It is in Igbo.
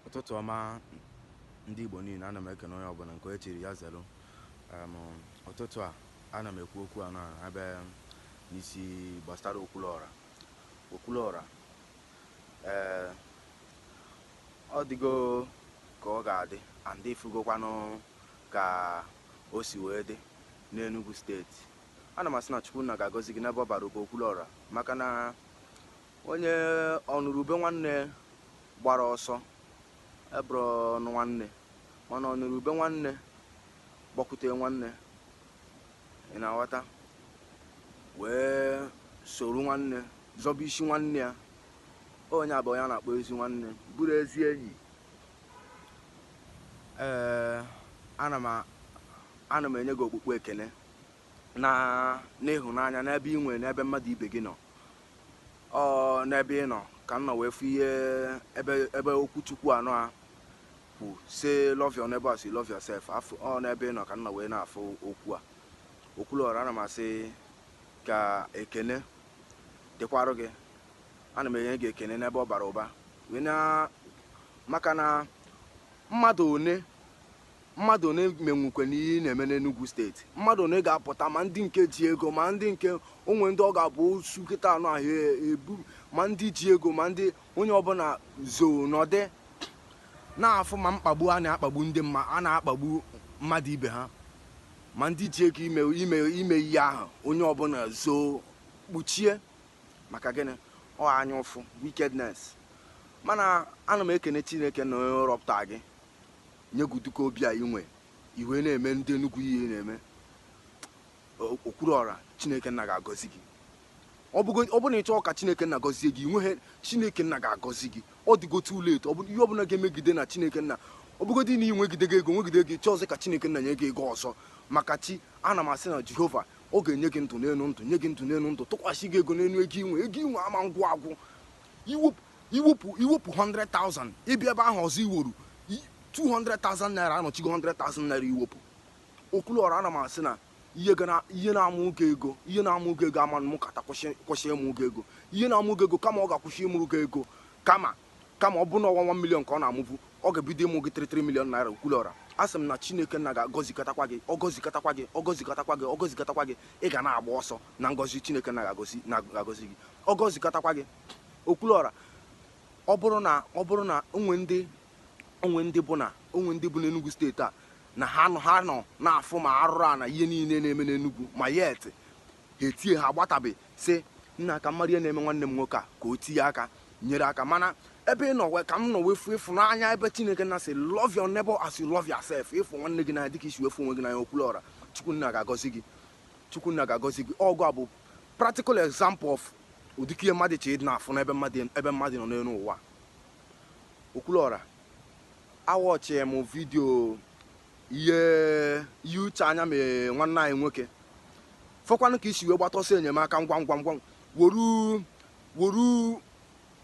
ụtụtụ ọma ndị Igbo niile ana m ekene onye ọbụla nke e chiri ya zelu Em, ụtụtụ a ana m ekwu okwu a na ebe n'isi gbasara okwuluọra okwuluọra ee ọ dịgo ka ọ ga-adị and ifugokwanụ ka o si wee dị n'Enugu steeti ana m asị na Chukwunna ga-agọzi gị n'ebe ọ bara ụba okwuluọra maka na Onye ọnụrụ ube nwanne gbara ọsọ abụrọnụ nwanne, mana ọnụrụ ube nwanne gbakwute nwanne, ị na-aghọta, wee soro nwanne zọba isi nwanne ya. Onye a bụ onye a na-akpọ ezi nwanne, bụrụ ezi enyi. Ee, ana m ana m enye gị okpukpu ekene na n'ịhụnanya n'ebe ị nwere n'ebe mmadụ ibe gị nọ. ọ n'ebe ị nọ ka m nọ wee fụ ihe ebe ebe okwu chukwu a nọ ekwu sị love your neighbor as you love yourself afụ ọ n'ebe ị nọ ka m nọ wee na-afụ okwu a okwuluọra ana m asị ka ekene dịkwarụ gị ana m enye gị ekene n'ebe ọ bara ụba wee na maka na mmadụ one Mmadụ one menwukwe na ihe ị na-eme n'Enugwu steeti? Mmadụ one ga-apụta ma ndị nke ji ego ma ndị nke onwe ndị ọ ga-abụ osu kịta anụ ahụ ebu ma ndị ji ego ma ndị onye ọbụla zoo nọdị na-afụ ma mkpagbu a na-akpagbu ndị mma a na-akpagbu mmadụ ibe ha ma ndị ji ego ime ime ime ihe ahụ onye ọbụla zoo kpuchie maka gịnị ọ anya ụfụ wickedness mana ana m ekene Chineke Nna onye rọpụta gị Nye gị ụdị ka obi a i nwe, i wee na-eme ndị Enugwu ihe ị na-eme. Okwuruọra, Chineke Nna ga-agọzi gị. Ọ bụgo ọ bụrụ na ị chọọ ka Chineke Nna gọzie gị, i nweghị Chineke Nna ga-agọzi gị. Ọ dịgo too late. Ọ bụ ihe ọbụla ga-emegide na Chineke Nna ọ bụgodị na ị nwegidego ego nwegide ego, ị chọọzị ka Chineke Nna nye gị ego ọzọ maka chi, ana m asị na Jehova ọ ga-enye gị ndụ n'elu ndụ, nye gị ndụ n'elu ndụ, tụkwasị gị ego n'elu ego i nwe. Ego i nwe ama ngwụ agwụ. I wepụ I wepụ i wepụ 100,000 ị bịa ebe ahụ ọzọ i weru 200,000 naira anọchigo 100,000 naira i wepụ. Okwuluọra ana m asị na ihe ga na ihe na-amụ gị ego ihe na-amụ gị ego amanụ mekata kwụsị kwụsị ịmụ gị ego ihe na-amụ gị ego kama ọ ga-akwụsị ịmụrụ gị ego kama kama ọ bụrụ na ọnwa 1 million ka ọ na-amụbu ọ ga-ebido ịmụ gị 33 million naira Okwuluọra a sị m na Chineke nna ga-agọzikatakwa gị ọ gọzikatakwa gị ọ gọzikatakwa gị ọ gọzikatakwa gị ị ga na-agba ọsọ na ngọzi Chineke nna ga-agọzi na-agọzi gị ọ gọzikatakwa gị Okwuluọra, Ọ bụrụ na o nwe ndị bụ na o nwe ndị bụ n'Enugwu steeti a na ha nọ ha nọ na-afụ ma arụrụ a na ihe niile na-eme n'Enugwu ma yet ha etie ha agbatabe sị nna ka m mara ihe na-eme nwanne m nwoke a ka o tinye aka nyere aka mana ebe ị nọ wee ka m nọ wee fụ ịfụnanya ebe Chineke nọ sị love your neighbor as you love yourself ịfụ nwanne gị n'anya dịka i si wee fụ onwe gị n'anya Okwuluọra Chukwunna ga-agọzi gị Chukwunna ga-agọzi gị ọgụ a bụ practical example of ụdịka ihe mmadụ chọ ịdị na-afụ n'ebe mmadụ nọ n'elu ụwa Okwuluọra a watchie m vidio ihe ihe Uche Anya mee nwanne anyị nwoke fụkwanụ ka i si wee gbata ọsọ enyemaka ngwa ngwa ngwa woru woru